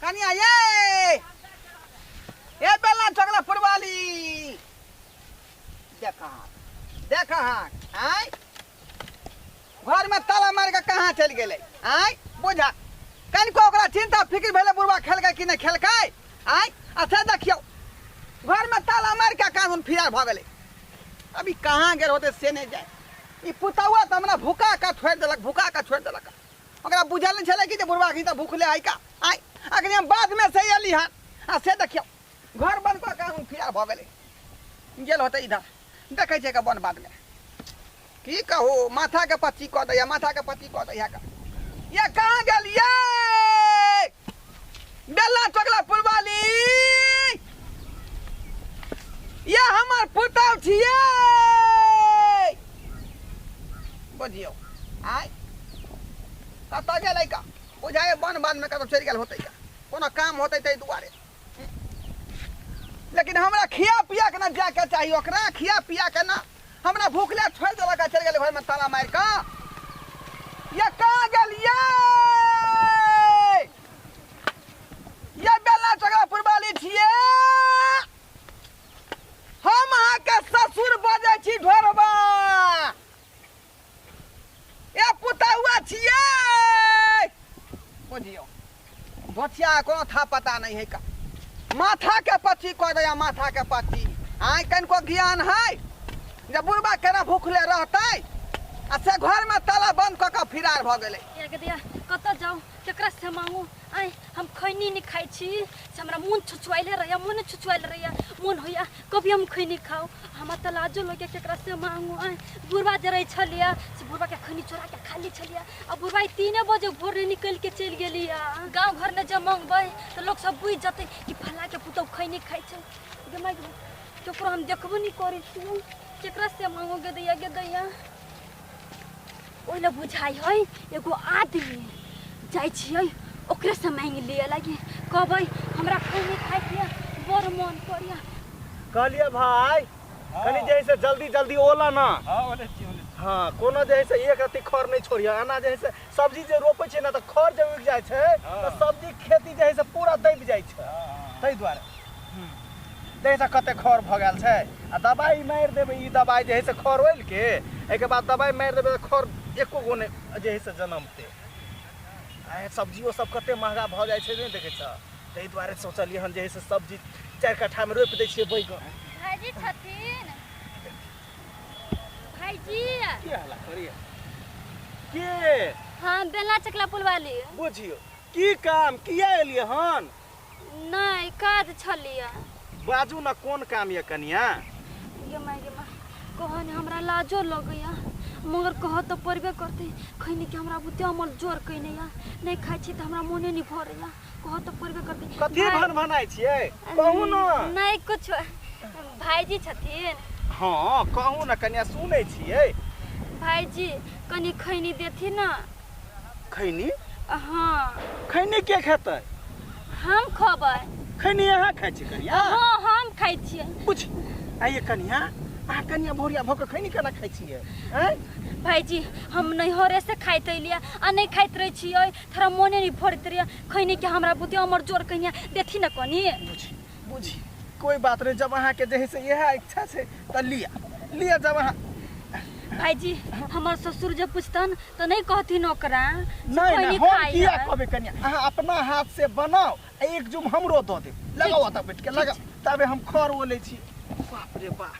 कनिया ये ए बेला ठोकला फुटबॉली देखा हाथ देखा हाथ आय घर में ताला मार के कहाँ चल गेले आय बुझा कनिको ओकरा चिंता फिक्र भेले बुढ़वा खेलकै कि नहि खेलकै आय आ से देखियौ घर में ताला मार के कानून फिरार भऽ गेलै अभी कहाँ गेल होते से नहीं जाए ई पुतौआ तो हमरा भुका का छोड़ देलक भुका का छोड़ देलक ओकरा बुझल नहि छलै कि जे बुढ़वा घी तऽ भूखले है का आइ अखनी हम बादमे से अयली हन आ से देखियौ घर बंद कऽ के हम फिरार भऽ गेलै गेल होतै इधर देखै छै बन बादमे की कहू माथाके पत्ती कऽ दैया माथाके पत्ती कऽ दैया का ये कहाँ गेलियै बेला टोकला पुरवाली ये हमर पुतौ छियै बुझियौ आय कतऽ गेलै का बुझाए बन बनमे कतऽ चलि गेल होतै का कोनो काम होतै ताहि दुआरे लेकिन हमरा खिया पिया के ना जाके चाहिए ओकरा खिया पिया के ना हमरा भूखले छोड़ि देलक आ चलि गेलै घरमे ताला मारि कऽ ये कहाँ गेलियै ये बेला चौका पुरबाली छियै हम अहाँके ससुर बजै छी ढोरबा ए पुतहुआ छिए बुझियो बचिया को था पता नहीं है का माथा के पच्ची कह दया माथा के पच्ची आय कनको ज्ञान है जे बुढ़बा केना भूखले रहतै आ से घर में ताला बंद क के फिरार भ गेलै ए गदिया कत जाऊ केकरा से मांगू आय हम खैनी नहीं खाई छी से हमरा मुंह छुछुआइले रहैया मुंह छुछुआइले रहैया मुंह होइया कभी हम खैनी खाऊ हमरा तऽ लाजो लगे केकरा से मांगू आय बुढ़वा जरै छलिया से बुढ़वा के खैनी चोरा के खा ली छलिया आ बुढ़वा ई तीने बजे भोर रे निकल के चल गेलिया गांव घर में जब मांगबै तऽ लोग सब बुझ जतै कि फला के पुतौ खैनी खाइ छै गे माय गे, केकरो हम देखबो नहीं करै छियै केकरा से मांगो गे दैया गे दैया ओहि लए बुझाइ है एगो आदमी जाइ छियै ओकरे से मांग लिए लगी कहबै हमरा खैनी खाइ के बड़ मन करिया कहलिए भाई कनी जे है से जल्दी जल्दी ओला ना हाँ ओले छी ओले छी हाँ कोनो जे है से एक रत्ती खर नहीं छोड़िए अना जे है से सब्जी जे रोपे छै ना तो खर जे उग जाए छै तो हाँ। सब्जी के खेती जे है से पूरा दब जाए छै हाँ हाँ ताहि दुआरे देख तऽ कते खर भऽ गेल छै आ दबाइ मारि देबै ई दबाइ जे है से खर ओलिके एहिके बाद दबाइ मारि देबै तऽ खर एको गो नहि जे है से जनमतै आ सब्जियो सब कते महगा भऽ जाइ छै नहि देखै छऽ ताहि दुआरे सोचलियै हन जे है से सब्जी चारि कट्ठामे रोपि दै छियै बैगन भाईजी छथिन भाईजी की हला करिए के हाँ बेला चकला पुलवाली बुझियो की काम किया एलियै हन नहि काज छलिए बाजू ने कोन काम यऽ कनिया गे माय गे माय कहन हमरा लाजो लगैया मगर कह तऽ पड़बे करतै खैनी कि हमरा बुते अमल जोर कैने या नहि खाइ छी तऽ हमरा मोने नहि भरैया कह तऽ पड़बे करतै कथी भाय- भन भनाइ छियै कहू ने नहि कुछो भाईजी छथिन हँ कहू ने कनिया सुनै छियै भाईजी कनी खैनी देथिन ने खैनी हँ खैनी के खेतै हम खबै खैनी अहाँ खाइ छी कनिया हँ हम खाइ छियै पूछ आइए कनिया अहाँ कनिया भोरिया भऽ कऽ खैनी केना खाइ छियै आँय भाईजी हम नैहरे से खाइत अलियै आ नहि खाइत रहै छियै थोड़ा मोने नहि भरैत रहैया खैनी के हमरा बुते अमर जोर कहिया देथिन ने कनी बुझी बुझी कोई बात नहीं जब अहाँ के जही से यह इच्छा से तो लिया लिया जब अहाँ भाईजी हमर ससुर जब पूछतन तो नहीं कहथिन ओकरा जे नहीं खैनी नहीं हम खाई किया है। कहबे कनिया अहाँ अपना हाथ से बनाओ आ एक जुम हमरो दो दे लगाओ तब बैठ के लगा तबे हम खर ओले छी बाप रे बाप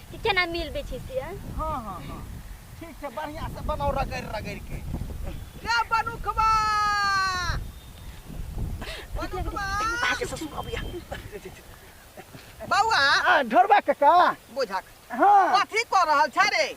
कि केना मिलबै छै से आँय? हाँ हाँ हाँ ठीक छै बढ़िया से बनाओ रगड़ रगड़ के रे बनुखबा बनुखबा आके ससुर अबिया बौआ ढोरबा कका बुझक हाँ कथी कऽ रहल छै रे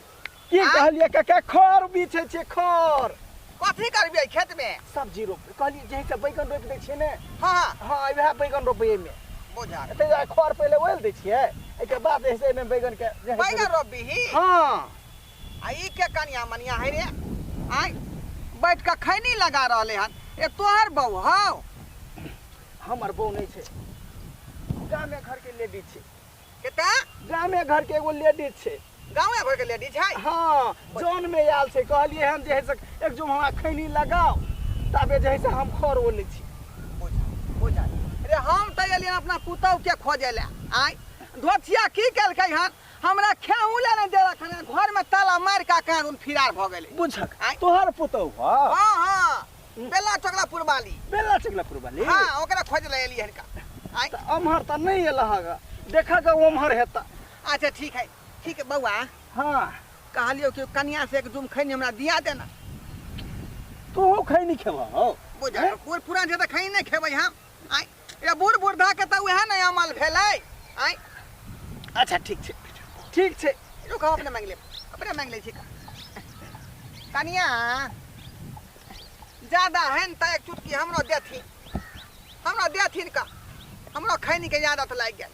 की आँय? कहलिए काका खर बीछे छे खर कथी करबियै खेत में सब्जी रोप कहलिए जे से बैगन रोप दे छिए ने हाँ हाँ हां वएह बैगन रोपे में बुझा एते जा खर पहिले ओल दे छिए एके बाद ऐसे में बैगन के जे है से बैगन रोपबी ही हां आ ई के कनिया मनिया है रे आय बैठ के खैनी लगा रहले हन ए तोहर बहू हौ हमर बहू नहीं छे गामे घर के लेडीज छे के तऽ गामे घर के एगो लेडीज छै गाँवे घर के लेडीज है हाँ जौन में आयल छै कहलिए हम जे है से एक जो हमरा खैनी लगाओ तबे जे है से हम खर ओले छी बुझा बुझा रे हम तऽ एलियन अपना पुतहु के खोजे ले आय धोथिया की केलकै हन हमरा खेहू ले नहि देलक हन घर में ताला मार के कान उन फिरार भऽ गेलै बुझक आँय? तोहर पुतहु हऽ हाँ हाँ बेला चोकला पुरबाली बेला चुगला पुरबाली हाँ ओकरा खोज ले एली हन का आय तऽ अमहर तऽ नहि एला हँ ग। देखा ग ओमहर हेता अच्छा ठीक है ठीक है बउआ हाँ कहलियो कि कन्या से एक जुम खैनी हमरा दिया देना तोहू खैनी खेबह हौ बुझल बूढ़ पुरान छै तऽ खैनी नहि खेबै हम आय ए बूढ़ बुढ़ा के तऽ उहे ने अमल भेलै आइ अच्छा ठीक छै ठीक छै रुक हम अपने मांगि लेब अपने मांगि लै छी कनिया ज्यादा है ने तऽ एक चुटकी हमरो देथिन हमरो देथिन का हमरो खैनी के आदत लागि गेल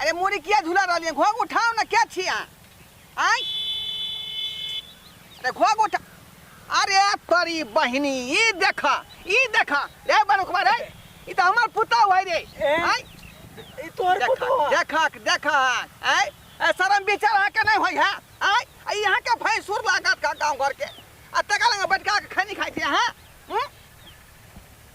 अरे मुड़ी किया झूला रही है घोग उठाओ ना क्या छी अहाँ आय अरे घोग उठा अरे तोरी बहिनी ई देखा ई देखा रे बरुकबा रे ई तो हमार पुता हुआ रे आय ई तोहर देखा पुतवा देखा देखा आय ए शरम विचार अहाँ के नहीं होई है आय आ ई अहाँ के भैंसुर लागत का गाँव घर के आ तका लगे बैठका के खैनी खाई छी अहाँ हम्म?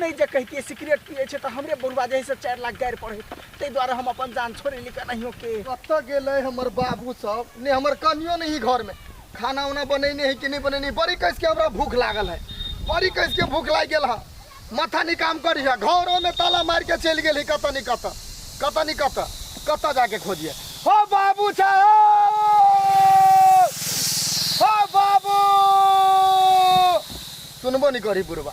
नहि जे कहितियै सिगरेट पियै छै तऽ हमरे बौआ जे है से चारि लाख गारि पड़ै ताहि दुआरे हम अपन जान छोड़ि ली केनाहियो के कतऽ गेलै हमर बाबू सब ने हमर कनियो नहि घर में खाना उना बनेने है कि नहीं बनेने है बड़ी कैस के हमरा भूख लागल है बड़ी कैस के भूख लागि गेल है माथा नहीं काम करी है घरों में ताला मार के चलि गेल है कतऽ नहीं कतऽ कतऽ नहीं कतऽ कतऽ जाके खोजिए हो बाबू साहब हो बाबू सुनबो नहीं करी बुढ़वा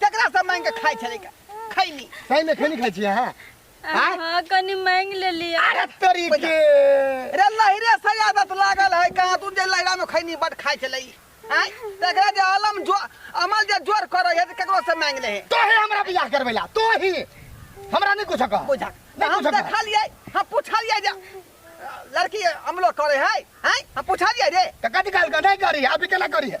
केकरा से मांग के खाई छले का खैनी सही में खैनी खाई छी हां आय? हाँ कनी मांग ले लिया अरे तोरी के रे लहरे से आदत लागल है कहाँ तू जे लहरा में खैनी बट खाई छले आय तेकरा जे अलम जो अमल जे जोर करे है त केकरो से मांग ले है तो ही हमरा बियाह करबेला तो ही हमरा नहीं कुछ कह बुझा ना हम बुझा का। देखलिए हम पूछलिए जे लड़की अमलो करे है हैं हम पूछलिए रे तो कथी कहल का नहीं करी अभी केना करी है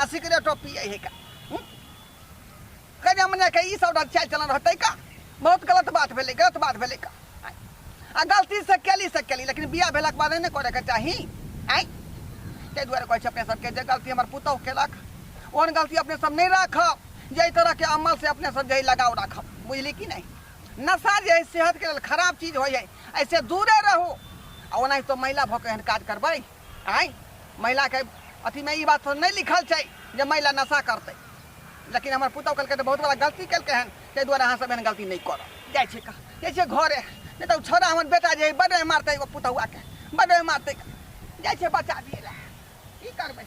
आ सिगरेटो पिए है का हूँ? कई हमने के ई सब चाल चलन रहते का बहुत गलत बात भेलै गलत बात भेलै का आय। आ गलती से केली से केली लेकिन बियाह भेलाक बाद नहि करे के चाही आय ताहि दुआरे कहै छै अपने सबके जे गलती हमर पुतहु केलक ओहन गलती अपने सब नहि राखब जे एहि तरहके अमल से अपने सब जे है लगाव राखब बुझली कि नहि नशा जे है सेहतके लेल खराब चीज होइ है ऐसे दूरे रहू आ ओनाहितो महिला भऽ कऽ एहन काज करबै आइ महिला के अथी में ई बात तो नहीं लिखल छै जे महिला नशा करते लेकिन हमर पुतौ कहलकै तऽ बहुत बड़ा गलती केलकै हन ताहि दुआरे अहाँ सब एहन गलती नहीं कर जाइ छै कह जाइ छै घरे नहीं तऽ छोरा हमर बेटा जे बड बड्ड मारतै एगो पुतौआ के बड्ड मारतै जाइ छै बच्चा दिए लए की करबै